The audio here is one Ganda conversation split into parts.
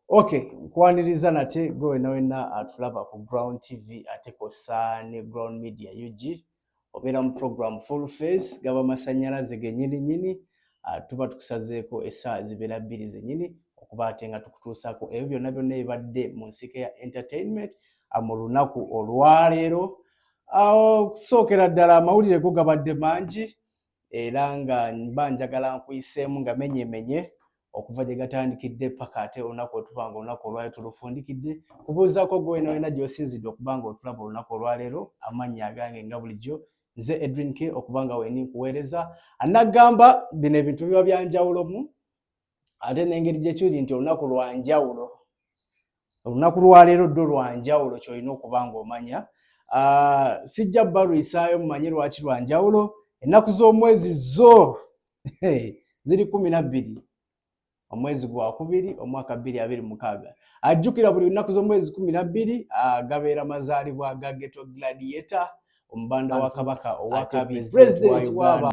Okay, nkwaniriza nate gwe wena wena atulaba ku Ground TV ate kosa ne Ground Media UG obeera mu program full face gaba masanyalaze genyini nyini ah, tuba tukusazeeko esaawa zibeera bbiri zenyini okuba ate nga tukutuusaako ebyo byonna byonna ebibadde mu nsika ya entertainment ah, mu lunaku olwaleero ah, okusookera ddala amawulire go gabadde mangi era nga mba njagala nkuyiseemu nga menyemenye okuva gye gatandikidde paka ate olunaku otuba nga olunaku olwali tulufundikidde kubuuzaako gwe wena wena gyosinzidde okuba nga otulaba olunaku olwaleero amannya agange nga bulijjo nze edrin k okuba nga wendi nkuweereza anagamba bino ebintu biba byanjawulomu ate n'engeri gye kiri nti olunaku lwa njawulo olunaku lwaleero ddo lwa njawulo kyolina okuba ng'omanya ah, sijja balwisaayo mumanye lwaki lwa njawulo ennaku z'omwezi zo ziri kumi na bbiri omwezi gwa kubiri omwaka bbiri abiri mukaaga ajjukira buli lunaku z'omwezi kumi na bbiri ah, gabeera mazaalibwa ga geto gladiator omubanda wa kabaka owakabiri president waba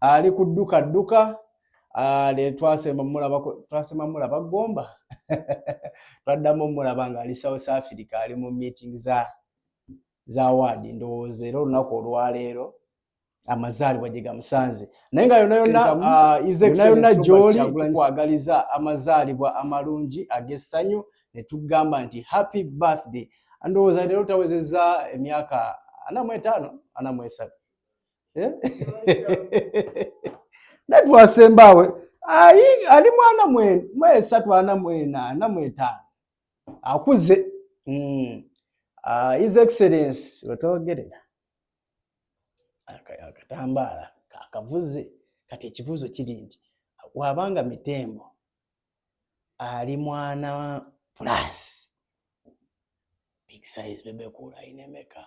ali ku dduka dduka ne twasemba mulaba twasema mulaba gomba twaddamu mulaba ng'ali south africa ali mu meeting za za waadi ndowooza era olunaku olwaleero amazaalibwa gye gamusanze naye nga yona yona ah, yona gyoli tukwagaliza amazaalibwa amalungi ag'essanyu ne tugamba nti happy birthday ndowooza leero tawezezza emyaka ana mu etaano ana mu esatu eh? natwasembaawe ali mwana mwesatu ana mwena ana mwetaano akuze hmm. ah, his excellence wetwogerera akatambaala kakavuze kati ekibuuzo kiri nti wabanga mitembo ali mwana plus big size bebe kula inemeka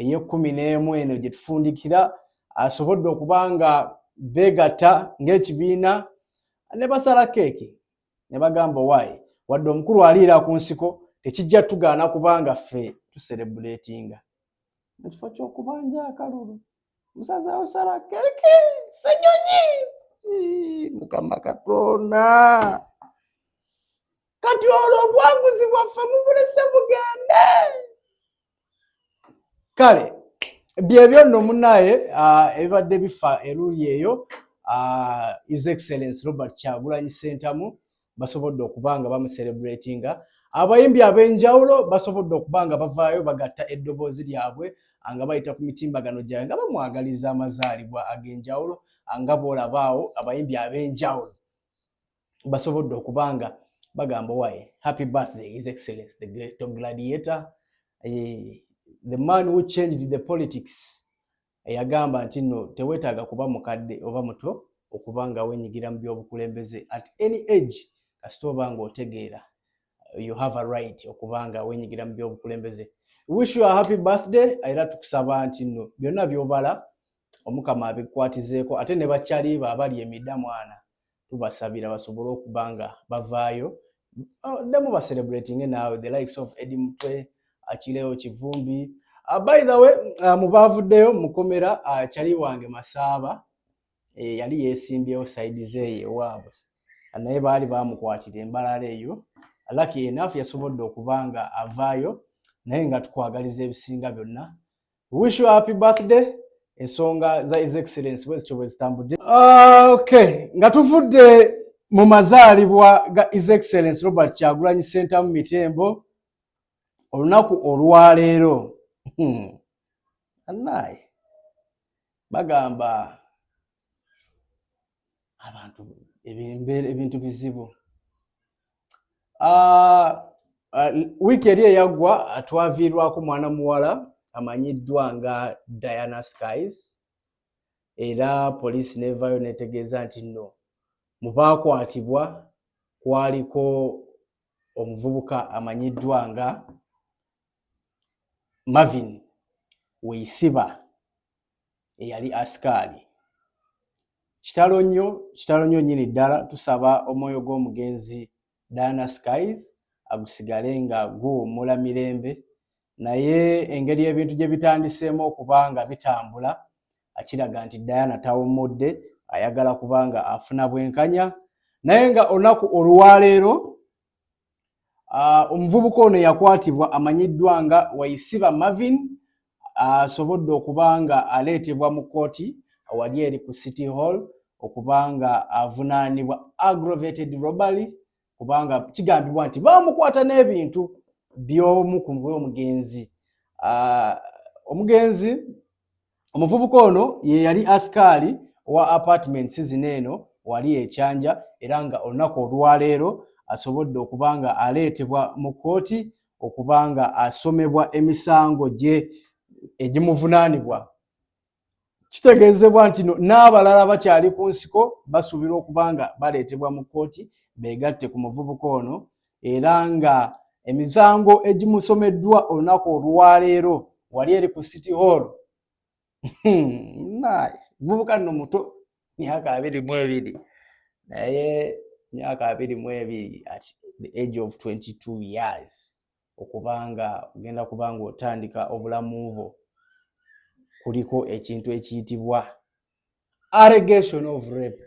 ey'ekkumi n'emu eno gye tufundikira asobodde okuba nga beegatta ng'ekibiina ne basala keeki ne bagamba owaayi wadde omukulu aliira ku nsiko tekijja tugaana kubanga ffe tuserebuleetinga mu kifo ky'okubanja akalulu musaza osala keeki senyonyi mukama katonda kati olwo obwaguzi bwaffe mubulese bugende kale byebyo nno munaye ah, ebibadde bifa eruli eyo ah, his excellence robert kyagulanyi sentamu basobodde okuba nga bamuserebratinga abayimbi ab'enjawulo basobodde okuba nga bavaayo bagatta eddoboozi lyabwe nga bayita ku mitimbagano gyabwe nga bamwagaliza amazaalibwa ag'enjawulo nga bwolabaawo abayimbi ab'enjawulo basobodde okuba nga bagamba waye happy birthday his excellence the great gladiator eh, the man who changed the politics yagamba nti no tewetaaga kuba mukadde oba muto okuba nga wenyigira mu byobukulembeze at any age kasita oba nga otegeera you have a right okuba nga wenyigira mu byobukulembeze wish you a happy birthday era tukusaba nti nno byonna byobala omukama abikwatizeeko ate ne bakyaliba abali emida mwana tubasabira basobole okuba nga bavaayo oh, ddamu bacelebratinge naawe the likes of edi mutwe akileo kivumbi uh, by the way uh, mubaavuddeyo mukomera uh, kyali wange masaaba eh, yali yesimbyewo saidi zeeyo ewaabwe naye baali bamukwatira embalala eyo laki enafu yasobodde okuba nga avaayo naye nga tukwagaliza ebisinga byonna Wish you a happy birthday. Ensonga za His Excellency bwezityo bwezitambudde. Ah, okay. Nga tuvudde mu mazaalibwa ga His Excellency Robert Kyagulanyi Ssentamu Mitembo olunaku olwaleero hmm. anaye bagamba abantu ebintu bizibu ah, ah, wiiki eri eyaggwa twaviirwako mwana muwala amanyiddwa nga diana skies era poliisi nevayo netegeeza nti no mu baakwatibwa kwaliko omuvubuka amanyiddwa nga marvin weisiba eyali asikaali kitalo nnyo kitalo nnyo nyini ddala tusaba omwoyo gw'omugenzi diana skies agusigale nga guwummula mirembe naye engeri ebintu gye bitandiseemu okuba nga bitambula akiraga nti diana tawummudde ayagala kuba nga afuna bwenkanya naye nga olunaku olwaleero Ah, omuvubuka ono eyakwatibwa amanyiddwa nga waisiba marvin ah, asobodde okuba nga aleetebwa mu kkooti awali eri ku city hall okuba nga avunaanibwa aggravated robbery kubanga kigambibwa nti bamukwata n'ebintu by'omu ku omugenzi ah, omugenzi Omuvubuka ono ye yali asikaali owa apartments zino eno wali ekyanja era nga olunaku olwaleero asobodde okuba nga aleetebwa mu kkooti okuba nga asomebwa emisango gye egimuvunaanibwa kitegeezebwa nti no n'abalala bakyali ku nsiko basuubirwa okuba nga baleetebwa mu kkooti beegatte ku muvubuka ono era nga emisango egimusomeddwa olunaku olwaleero wali eri ku city hall hmm, naye mubuka nno muto myaka abiri mu ebiri naye myaka abiri mu ebiri at the age of 22 years okubanga ogenda kubanga otandika obulamu bwo kuliko ekintu ekiyitibwa allegation of rape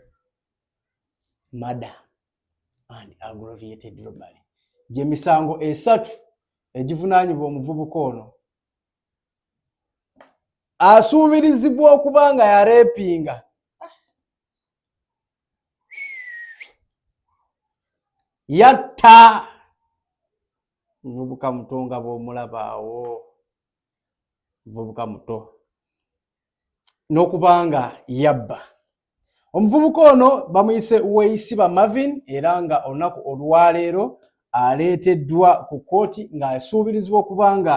mada and aggravated robbery gye misango esatu egivunaanyibwa omuvubuka ono asuubirizibwa okuba nga yareepinga yatta muvubuka muto nga bw'omulabaawo muvubuka muto n'okuba nga yabba omuvubuka ono bamuyise weisiba marvin era nga olunaku olwaleero aleeteddwa ku kkooti ng'asuubirizibwa okuba nga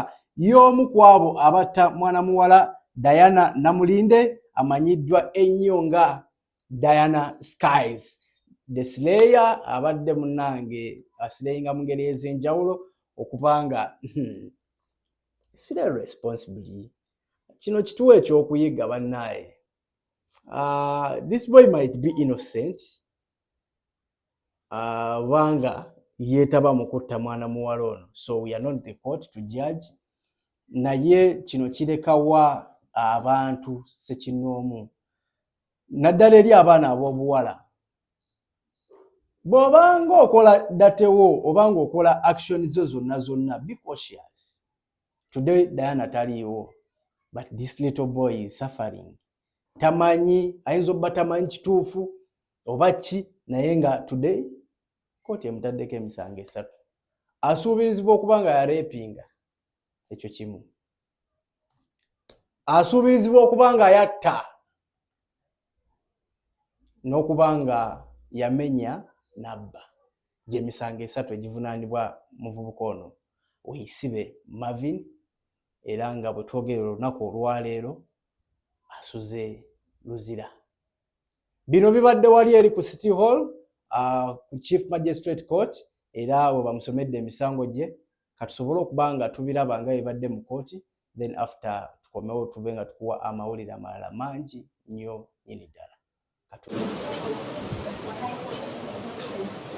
y'omu ku abo abatta mwana muwala diana namulinde amanyiddwa ennyo nga diana skies desileya abadde munange asileyinga mu ngeri ez'enjawulo okuba nga hmm, sire responsibly kino kituwa ekyokuyiga bannaaye uh, this boy might be innocent kubanga uh, yeetaba mu kutta mwana muwala ono so we are not the court to judge naye kino kirekawa abantu sekinoomu naddala eri abaana ab'obuwala bw'obanga okola datewo obanga okola action zo zonna zonna be cautious today diana taliiwo but this little boy is suffering tamanyi ayinza obba tamanyi kituufu oba ki naye nga today kooti emutaddeko emisango esatu asuubirizibwa okuba nga yarepinga ekyo kimu asuubirizibwa okuba nga yatta n'okuba nga yamenya n'abba gy'emisango esatu egivunaanibwa muvubuka ono Weisibe Marvin era nga bwe twogerera olunaku olwaleero asuze Luzira. Bino bibadde wali eri ku City Hall uh, ku Chief Magistrate Court era we bamusomedde emisango gye katusobole okuba nga tubiraba nga ebadde mu kooti then after tukomewo tube nga tukuwa amawulire amalala mangi nnyo nyini ddala Thank you.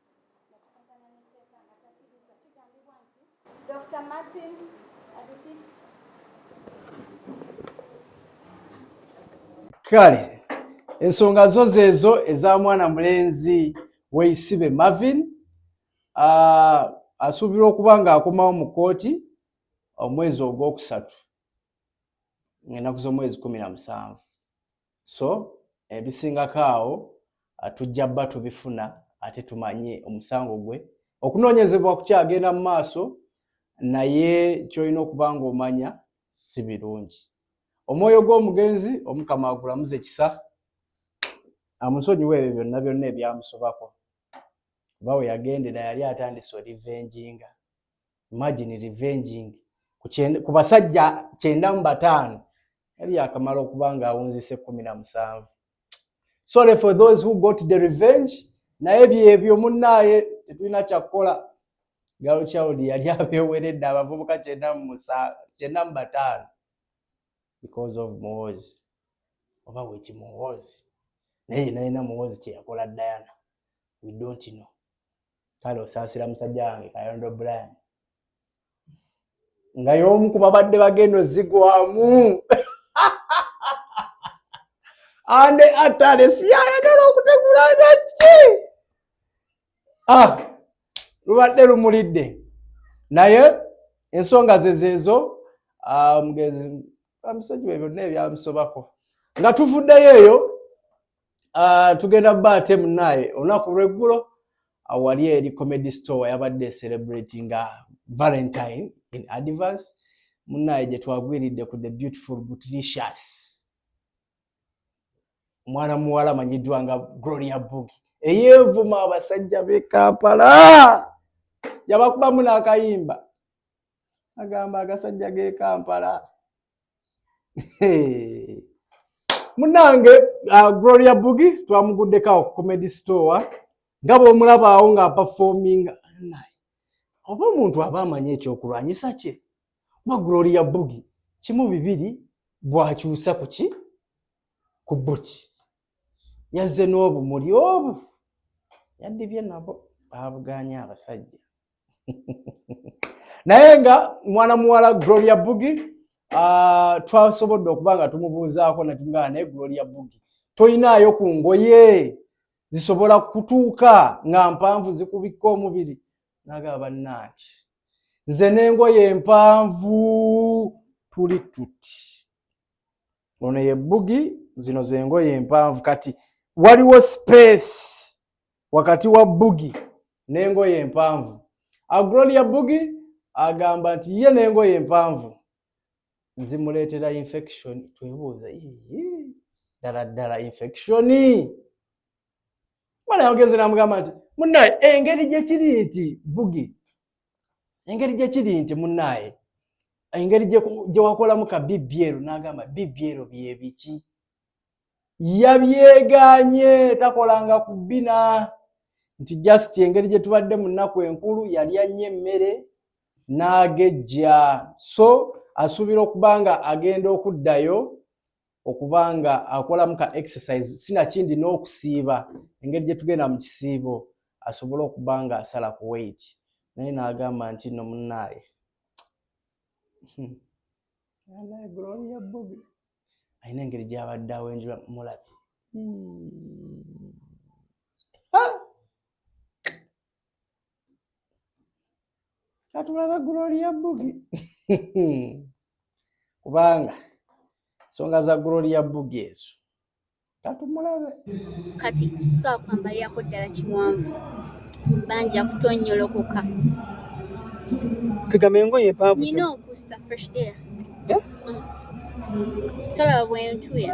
Dokita Martin Adipik. Kale ensonga zo zeezo eza mwana mulenzi weisibe Marvin uh, asuubirwa okuba ng'akomawo mu kkooti omwezi ogwokusatu ng'ennaku z'omwezi kumi na musanvu so ebisingako awo ah, tujja bba tubifuna ate tumanye omusango gwe okunoonyezebwa kukyagenda mu maaso naye kyolina okuba nga omanya si birungi omwoyo gw'omugenzi omukama agulamuze kisa amusonyiwa ebyo byonna byonna ebyamusobako oba we yagendera yali atandise olivenjinga imagine revenging ku basajja kyenda mu bataano yali yakamala okuba nga awunzise kumi na musanvu sorry for those who got the revenge naye byebyo munnaaye tetulina kyakukola gal child yali abeweredde abavubuka kyenda mu bataano because of muwozi oba weki muwozi naye nayina muwozi kyeyakola diana we don't know kale osaasira musajja wange kayondo brian nga y'omu ku babadde bagenda ozigwamu ande atale siyayagala okutegula nga ki ah, lubadde lumulidde naye ensonga ze zeezo ah, mugezi amisonyiwe byonna ebyamusobako nga tuvuddeyo eyo Ah, tugenda ba ate munaye olunaku lweggulo awali ah, eri comedy store yabadde celebrate nga valentine in advance munaye gyetwagwiridde ku the beautiful butricious omwana muwala amanyiddwa nga gloria bugi eyevuma abasajja be kampala yabakubamu n'akayimba agamba agasajja ge kampala munange uh, gloria bugi twamuguddeko awo ku comedy store nga bwomulaba awo nga performing oba omuntu aba amanyi ekyokulwanyisa kye kuba gloria bugi kimu bibiri bwakyusa kuki ku buti yazze n'obumuli obu yaddibye nabo baabuganye abasajja naye nga mwana muwala gloria bugi ah, twasobodde okuba nga tumubuuzaako netugana naye gloria bugi toyinaayo ku ngoye zisobola kutuuka nga mpanvu zikubikka omubiri nagaba bannaaki nze n'engoye empanvu tuli tuti ono ye bbugi zino zengoye empanvu kati waliwo space wakati wa bbugi n'engoye empanvu agloria bbugi agamba nti ye n'engoye empanvu zimuleetera infection twebuuza ddala ddala infection mwana yagenze namugamba nti munaye engeri gyekiri nti bbugi engeri gye kiri nti munnaaye engeri gye wakolamu ka bibyero n'agamba bibyero bye biki yabyeganye takolanga ku bina nti just engeri gye tubadde mu nnaku enkulu yali annyo emmere n'agejja so asuubira okuba nga agenda okuddayo okuba nga akolamu ka exercise sinakindi n'okusiiba engeri gye tugenda mu kisiibo asobole okuba nga asala ku weight naye n'agamba nti no munnaaye hmm. alina engeri gy'abadde awenjula mulabi hmm. katulaba gloria bugi kubanga ensonga za gloria bugi ezo katumulabe kati sakwambalirako ddala kiwanvu banja kutonyolokoka tugambe engoye empanvu nina okussa fresh air eh? mm. talaba bwentuya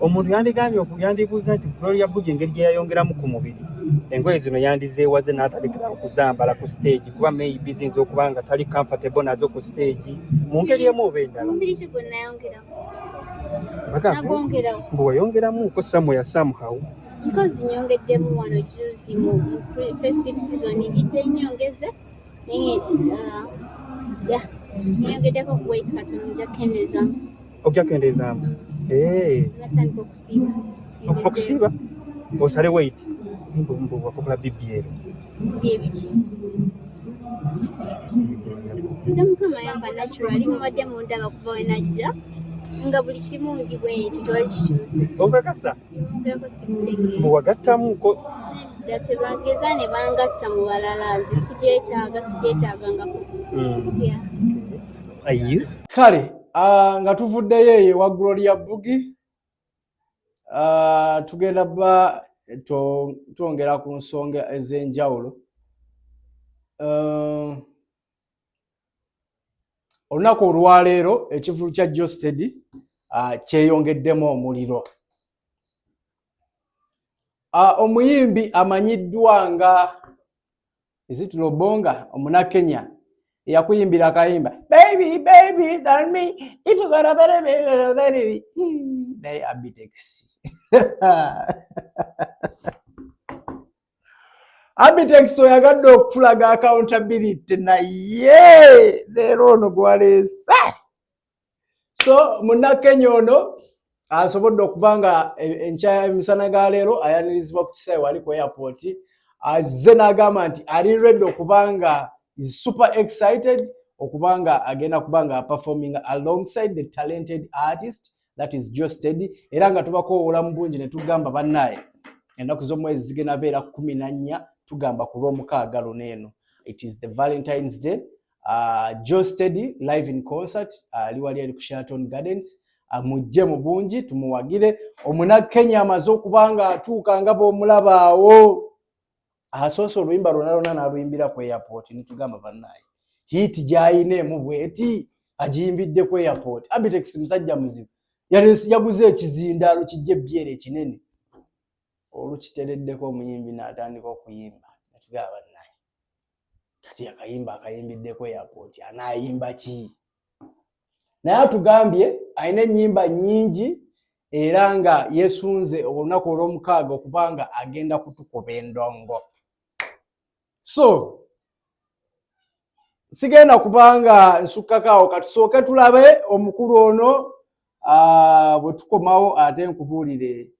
omuntu yandigambye yandibuuza nti gloria bugi engeri gye yayongeramu ku mubiri engoye zino yandizeewaze n'atalekera okuzambala ku siteegi kuba maybe ziyinza okuba nga tali comfortable nazo ku siteegi mu ngeri emu oba endala mbu wayongeramu ko samuya somehow nkozi nyongeddemu wano juzi mu festive season njidde nyongeze naye uh, ya nyongeddeko ku wait katono nja kendezamu okujja kendeezaamu eh. batandika okusiiba okusiiba osale wait mbuwakokola bibyero byebiki nze mukama yamba naturali mubadde mundaba kuva wenajja nga buli kimu ndi bwekyo tewali kikyuseokakasa mbuwagattamuko nedda tebageza ne bangatta mu balala nze sigyetaaga sigyetaaga nga hmm. kale Ah, nga tuvuddeyo eyo ewa gloria bugi ah, tugenda ba twongera ku nsonga ez'enjawulo ah, olunaku olwaleero ekivulu kya josted kyeyongeddemu omuliro omuyimbi amanyiddwa nga Is it Lobonga omuna Kenya eyakuyimbira akayimba baby baby tell me if you got a better better baby naye Abitex Abitex oyagadde okutulaga accountability naye leero ono gwaleese so munnakenya ono asobodde okuba nga enkya emisana ga leero ayanirizibwa ku kisaawe wali ku airport azze n'agamba nti ali redi okuba nga is super excited okuba nga agenda kuba nga performing alongside the talented artist that is josted era nga tubakowoola mu bungi ne tugamba bannaye ennaku z'omwezi zigenda beera kumi na nnya tugamba ku lw'omukaaga luno eno it is the valentines day Uh, Joe Steady live in concert ah, ali uh, wali ali ku Sheraton Gardens amujje ah, mu bungi tumuwagire omuna Kenya amaze okubanga atuuka nga bwomulabaawo asoose oluyimba lwona lwona naluyimbira ku airport nitugamba bannaye hiiti gyayina emu bweti agiyimbidde ku airport Abitex musajja muzibu yalensi yaguze ekizindaalo kijja ebbyere ekinene olukitereddeko omuyimbi n'atandika okuyimba natugaba bannaye kati akayimba akayimbiddeko airport anayimba ki naye atugambye alina ennyimba nyingi era nga yesunze olunaku olwomukaaga okuba nga agenda kutukuba endongo so sigenda kubanga nsukkakaawo katusooke tulabe omukulu ono ah, bwe tukomawo ate nkubuulire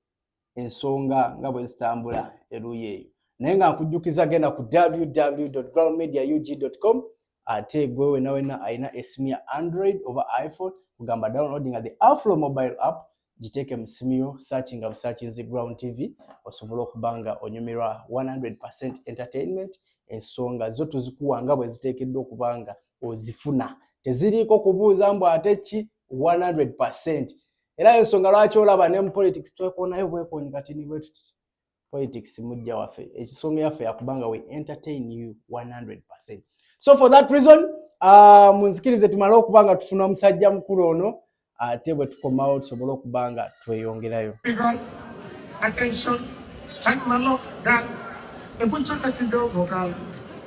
ensonga nga bwe zitambula eruuyi eyo naye nga nkujjukiza genda ku www groundmedia ug com ate gwe wena wena alina esimu ya android oba iphone kugamba download nga the aflo mobile app giteeke mu simu yo searchi nga busakinzi ground tv osobole okuba nga onyumirwa 100 entertainment ensonga zo tuzikuwa nga bwe ziteekeddwa okuba nga ozifuna teziriiko kubuuza mbu ate ki 100 era ensonga lwaki olaba ne mu politics twekonayo bwekoni kati ni bwetuti politics mujja waffe ekisonga yaffe yakubanga we entertain you 100 so for that reason uh, munzikirize tumale okuba nga tufuna musajja mukulu ono ate bwe tukomawo tusobole okuba nga tweyongerayo Attention, stand my lock, gun. If we check at the door, go, gun.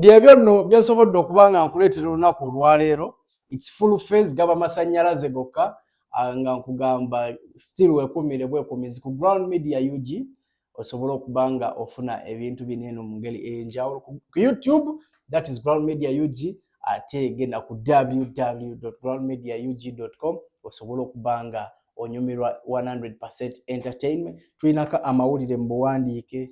byebyo nno byensobodde okuba nga nkuleetera olunaku olwaleero its full face gaba masannyalaze gokka ah, nga nkugamba still wekumire bwekumizi ku ground media ug osobole okuba nga ofuna ebintu bino eno mu ngeri eyenjawulo ku youtube that is ground media ug ate genda ku www ground media ug com osobole okuba nga onyumirwa 100 entertainment tulinako amawulire mu buwandiike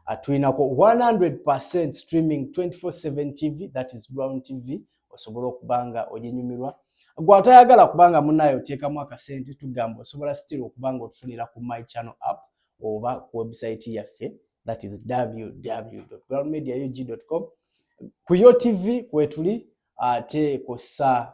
atulinako 100 streaming 24/7 tv that is ground tv osobola okuba nga oginyumirwa gwe atayagala kubanga munaye oteekamu akasente tugamba osobola still okuba nga otufunira ku my channel app oba ku website yaffe that is www.groundmediaug.com ku yo tv kwetuli ate kosa